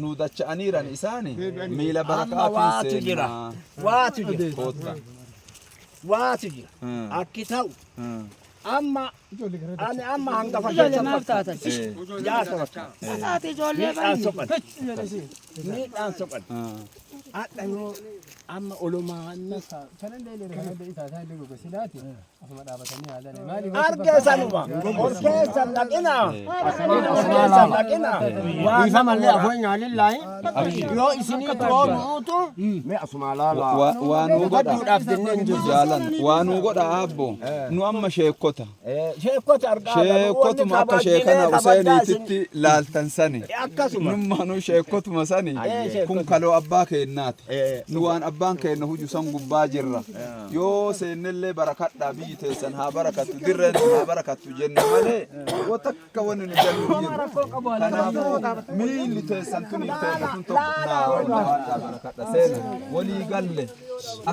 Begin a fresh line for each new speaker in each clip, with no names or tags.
nuu dacha'aniiran
isaani miila barakaa Amma fi waatu jira. seennaa Waatu jira. kootta.
Waatu jira. Hmm. Akki ta'u. Hmm. Amma ani amma hangafa Ijoollee keessa maaf taatan? Eh, jaarsa bakka. Taate ijoollee
Miidhaan baay'ee.
soqan. Miidhaan soqan. ah. Hadha yoo amma olumaa
nasa. arge sanuma
ol keessa dhaqina ol keessa dhaqina Isa malee
afoo nyaalin laayi. Yoo isinii
biroo nuutu mee asumaa laalaa. Wa- waa nuu godha Hubachuudhaaf
jennee
hin jirru.
jaalan
waa
nuu godha aabbo nu amma sheekkota sheekkota argaa
sheekkotuma akka
sheekana useeniititti laaltan sani akkasuma nummaanuu
sheekkotuma
sani Eh, sheekkota. kun kaloo abbaa keennaati Eh, nu waan abbaan keenna huju san gubbaa jirra yoo seennellee barakadhaa biyyi teessan haa barakattu dirreen tun haa barakattu jenna malee yoo takka wanni nu jallu hin jiru kanaafuu miilli teessan tun hin teenne tun tokko naa wajjin haadhaa barakadha seena walii galle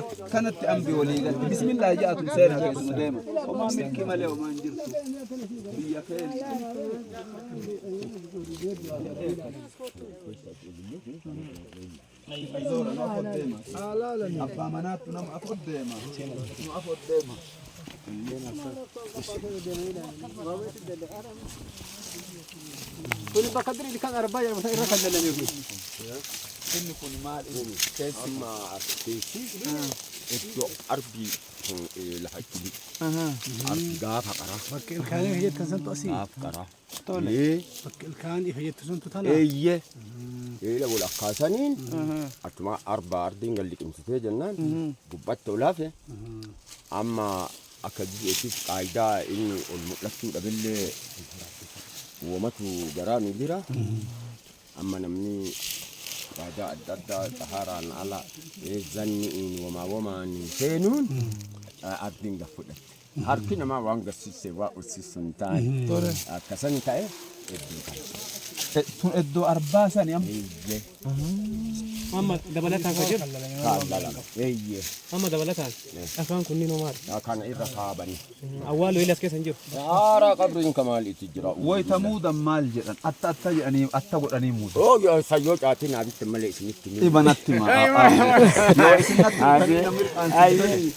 akkanatti ambi walii galle bismillah ja'atu seena keessa nu deema homaa milkii malee homaa hin jirtu biyya keessa Zoora nu afur deema. Abbaa manaattu nama afur deema. Nu afur
deema. Kun bakka diriitti kan arbaa jedhamu irra kan dalame kun.
Inni kun maal inni? Keessi. Amma
keessi iddoo arbii lafa itti arbi gaafa qaraa. Bakkeen kaanii jettan
santu asii. Gaaf qaraa.
Tole. Ee,
Bakka ilkaan ifa jettu suntu tana. eeyye
eela wal akkaasaniin achuma arbaa ardiin gad liqimsitee jennaan gubbatti ol hafe amma akka jireettis qaayidaa inni ol mul'achuu dhabillee uumatu garaa nu jira amma namni qaayidaa adda addaa xahaaraan ala ee zanni'iin wamaa wamaan seenuun ardiin gad fudhatte. Harki namaa waan gassisse waa ussissu hin taane. Akka sani ta'e iddoo kana.
Tun iddoo arbaa sani amma. Eeyyee. Amma
dabalataan ka jiru. Faallaa lama.
Eeyyee. Amma dabalataan.
Dhakaan kunniin hoo maali? Kana irra kaabanii.
Awwaaloo ilas keessa
hin jiru. Haaraa qabriin
ka maaliiti jira? Wayita muudan maal
jedhan? Atta atta jedhanii atta godhanii muudan. Oo yoo sayyoo caatiin
abitti malee isinitti ni. Ibanatti maa. Yoo isin natti
Ayyee. mirqaansitan. Ayyee.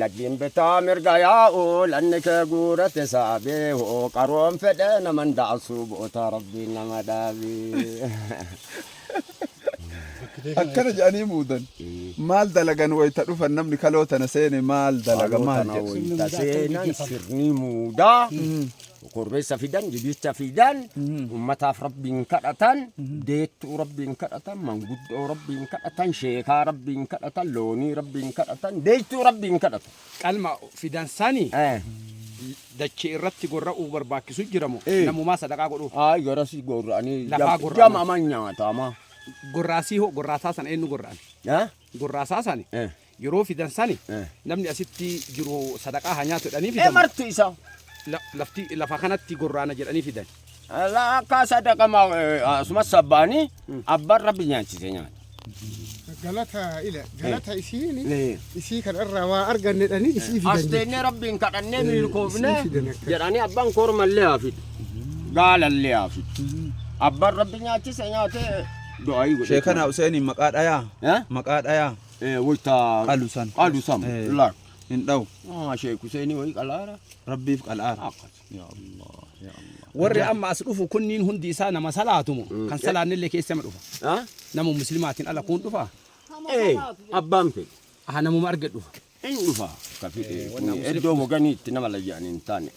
Laggiin bitaa mirga yaa'u lanni kee guurate saabee hoo qaroon fedhe naman daasuu bootaa rabbiin nama dhaabee.
Akkana jedhanii muudan. Maal dalagan wayita dhufan namni kaloo tana seene maal dalaga maal jedhu.
Sirni muudaa. Korbeessa fidan, jibicha fidan, ummataaf rabbiin kadhatan, deettuu rabbiin kadhatan, manguddoo rabbiin kadhatan, sheekaa rabbiin kadhatan, loonii rabbiin kadhatan, deettuu rabbiin kadhatan. Qalma fidan
sani Eh, dachee irratti gorra'uu barbaachisu jiramu Eh. namumaa sadaqaa godhu. Ay, garasi gorra'anii
Lafaa jam- gorra'anii. jamaman
nyaatama.
Gorraasii hoo
gorraasaa sana eenyu gorra'an? Eh? Gorraasaa sani Eh. Yeroo fidan sani Eh. namni asitti jiru sadaqaa haa nyaatu jedhanii Ee fidan. marti isaa.
La- Lafti
lafa kanatti gorraana jedhanii fidan. Ala akka
sadaqama asuma sabbaanii abbaan rabbi nyaachise nyaata. galata
ila galata isiini Eh. isii kan irraa waa argannedhani isii As fidan teennee rabbiin kadhannee
milkoofne isii fidan akka- jedhanii abbaan kormallee haa fidu. Gaalallee haa fidu. Abbaan rabbi nyaachise nyaatee du'aa godhe. Sheekana Huseenin maqaa
dhayaa. Eh? Maqaa dhayaa. Eh, wayta Qalu
san. qalu san Eh. laal hin dhawu ah
sheek Huseenii
wayii qalaara rabbiif qal'aara akkas
yaa allah yaa allah warri amma as dhufu
kunniin hundi isaa nama salaatumo kan salaannillee keessa ma dhufa ah nama muslimaatiin
ala
kun dhufa eh abbaan fedhe aha
namuma
arge dhufa hin
dhufa ka fedhe kun iddoo waganii itti nama layyaan hin taane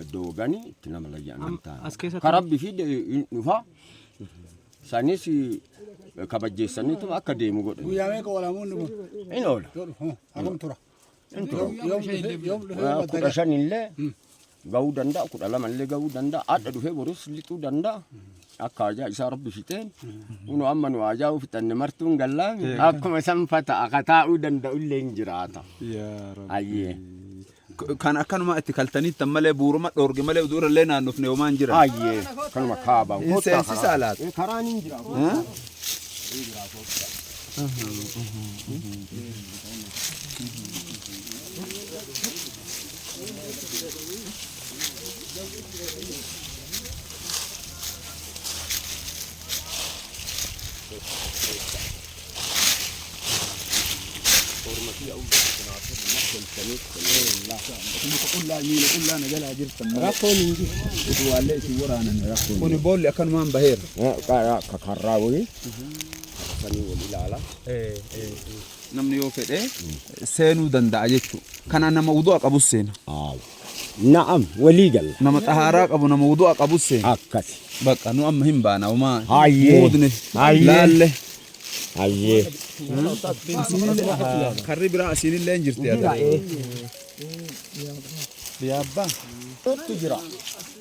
iddoo waganii itti nama layyaan hin taane As keessatti- ka rabbi fide hin dhufa Isaanis kabajjeessaniituma akka deemu godhan. Guyyaa meeqa oola muunni kun?
In oola. Yoo
dhufu hoo? Akkam tura?
In tura. Yoom- Yoom dhufee yoom dhufee Waa
madda Kudha gala? shan illee gahuu danda'a, kudha lama illee gahuu danda'a, adda dhufee boris lixuu danda'a. Akka ajaa isaa rabbi fixeen, kunoo amma nu ajaa fixanne martuun gallaami. Akkuma sanfata akka taa'uu danda'u illee hin jiraata. Yaa Rabbi. Ayyee.
Kan akkanumaa itti kaltaniittan malee buuruma dhoorge malee utuu irrallee naannofne homaa hin jiran. Hayyee kanuma
kaaba. Hin Kottaa seensisaa karaa. laata? Eh,
Karaan hin jira.
kottaa. Hin jira, kottaa.
Rakkoon hin jiru. Utuwaallee isin waraanan rakkoon. Kuni boolli akkanumaan baheera. Akka karraa
wayii. Sanii wal ilaala.
Namni yoo fedhe seenuu danda'a jechuudha. Kana nama wudu'a qabus seena. Aawu. Na'am
walii galla. Nama xahaaraa qabu nama
wudu'a qabus seena. Akkasi. Bakka
nu amma hin
baana homaa. Hayyee. Muudne.
Hayyee.
Laalle. Hayyee. Karri biraa asiinillee hin jirti. Jira ee.
Yaabba. Tuttu jira.